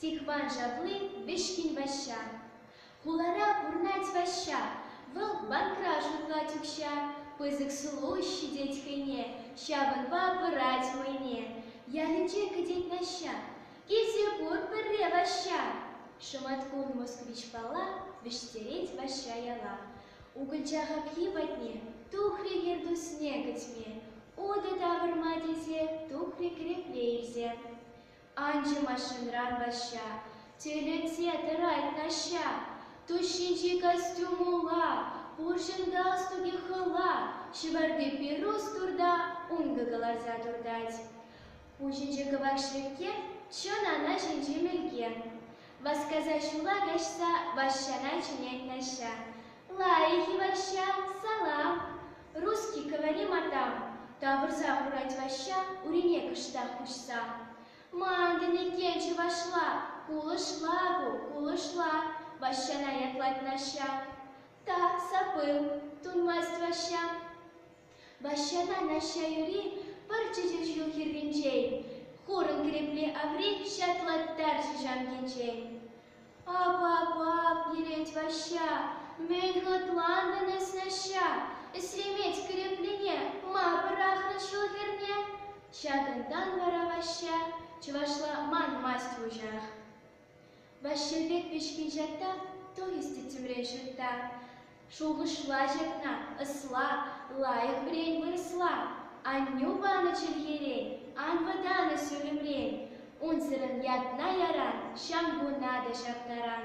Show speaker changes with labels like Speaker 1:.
Speaker 1: Стихван Шатли Вӗҫкӗн Ваҫҫа. Хулара пурӑнать Ваҫҫа. Вӑл банкра шутлать укҫа. Пысӑк сулӑлӑҫ ҫитет хӑйне. Ҫавӑнпа пырать вӑйне. Ялӗнче кӗтет Наҫҫа. Килсе кур пӗрре Ваҫҫа. Шӑматкун Москвич Пала вӗҫтерет Ваҫҫа яла. Укӑлча хапхи патне тухрӗ Хӗртусне кӗтме, утӑ тавӑрма тесе тухрӗ кӗрепле илсе. Анчӗ машинран Ваҫҫа, тӳлесе тӑрать Наҫҫа. Тус ҫинчи костюмулла, пурҫӑн галстуке хӑла, ҫӑварти пирус турта ункӑ кӑларса туртать. Ун ҫинче кӑвак шеркке, чӑн ана ҫинчи мӗлке. Васкаса ҫула каҫса Ваҫҫана чӗнет Наҫҫа. Лайӑх-и, Ваҫҫа, салам! Русский говори, матам! тавӑрса хурать Ваҫҫа, урине кӑштах куҫса. Мантӑн иккен чӑвашла, кулӑшла ку, кулӑшла, Ваҫҫана ятлать Наҫҫа. Та, сапыл, тунмасть Ваҫҫа. Ваҫҫана Наҫҫа юри пӑр чӗчӗ ҫул хӗрринчен, Хурӑн кӗрепле аври ҫаклаттарчӗ ҫамкинчен. Ап-ап-ап, йӗрет Ваҫҫа, мӗн хӑтлантӑн эс, Наҫҫа, ӗҫлемет кӗреплене, ма пӑрахрӑн ҫул хӗрне? Ҫакӑнтан вара Ваҫҫа чӑвашла манмасть уҫах. Ваҫҫи пек пичке ҫатта туристи тимре ҫутта. Шухӑшлаҫҫӗ кӑна ӑсла, лайӑх вӗрен вырӑсла. Аннӳ панӑ чӗлхерен ан вӑтанӑ ҫулӑмрен. Унсӑрӑн ятна яран ҫамкуна та ҫаптаран.